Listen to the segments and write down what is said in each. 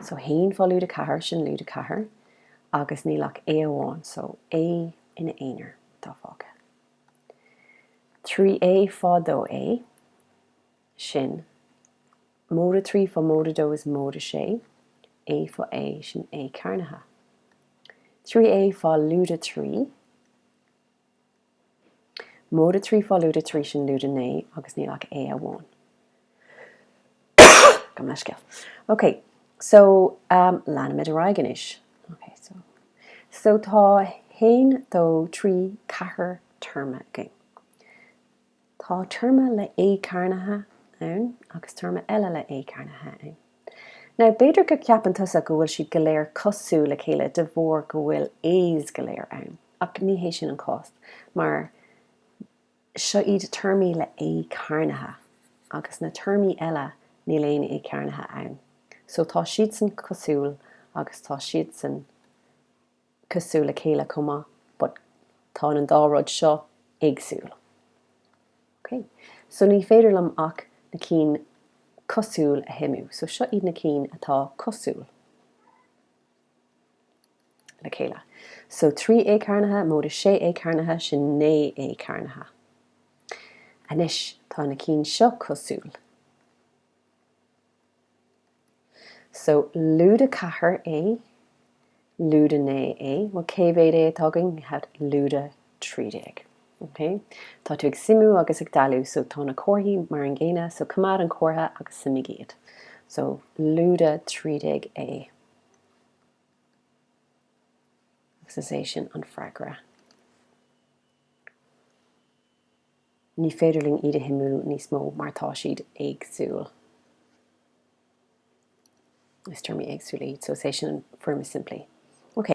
So haon fá lúide ceathair, sin lúide ceathair agus níl ach A amháin, so A ina aonar atá fágtha. Trí A fá dó A, sin móide trí fá móide dó is móide sé, A fá A, sin A cearnaithe. Trí A fá lúide trí. Móide trí fá lúide trí sin lúide naoi agus níl ach A amháin. Gabh mo leithscéal. Ok, so, leanfaimid ar aghaidh anois. Ok, so. So tá haon dó trí ceathair téarma againn. Tá téarma le A cearnaithe ann agus téarma eile le A cearnaithe ann. Now, b'fhéidir go ceapann tusa go bhfuil siad go léir cosúil le chéile de bharr go bhfuil A's go léir ann, ach ní hé sin an cás, mar seo iad téarmaí le A cearnaithe, agus na téarmaí eile níl aon A cearnaithe ann. So, tá siadsan cosúil agus tá siadsan. cosúil le chéile chomh maith but tá an dá rud seo éagsúil. Ok, so ní féidir liom ach na cinn cosúil a shuimiú, so seo iad na cinn atá cosúil le chéile. So 3 A cearnaithe móide 6 A cearnaithe sin 9 A cearnaithe. Anois tá na cinn seo cosúil. So, lúide 4 A, lúide 9 A, bhuel cé mhéad A atá againn? We had lúide 13. Ok? Tá tú ag suimiú agus ag dealú so tá na comharthaí mar an gcéanna so coimeád an comhartha agus suimigh iad. So, lúide 13 A. Agus is é sin an freagra. Ní féidir linn iad a shuimiú níos mó mar tá siad éagsúil. Is téarmaí éagsúla iad, so is é sin an foirm is simplí. Ok.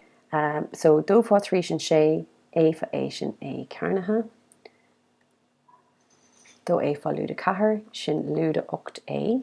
So, dó fá trí sin sé A fá A sin A cearnaithe. Dó A fá lúide ceathair sin lúide ocht A.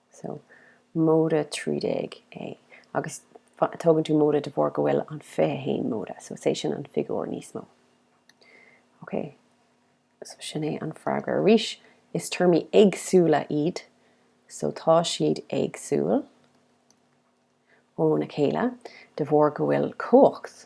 So, móide trí déag A agus tógann tú móide de bharr go bhfuil an fiche haon móide, so is é sin an figiúr níos mó. Ok, so sin é an freagra. Arís, is téarmaí éagsúla iad, so tá siad éagsúil óna chéile de bharr go bhfuil cumhacht,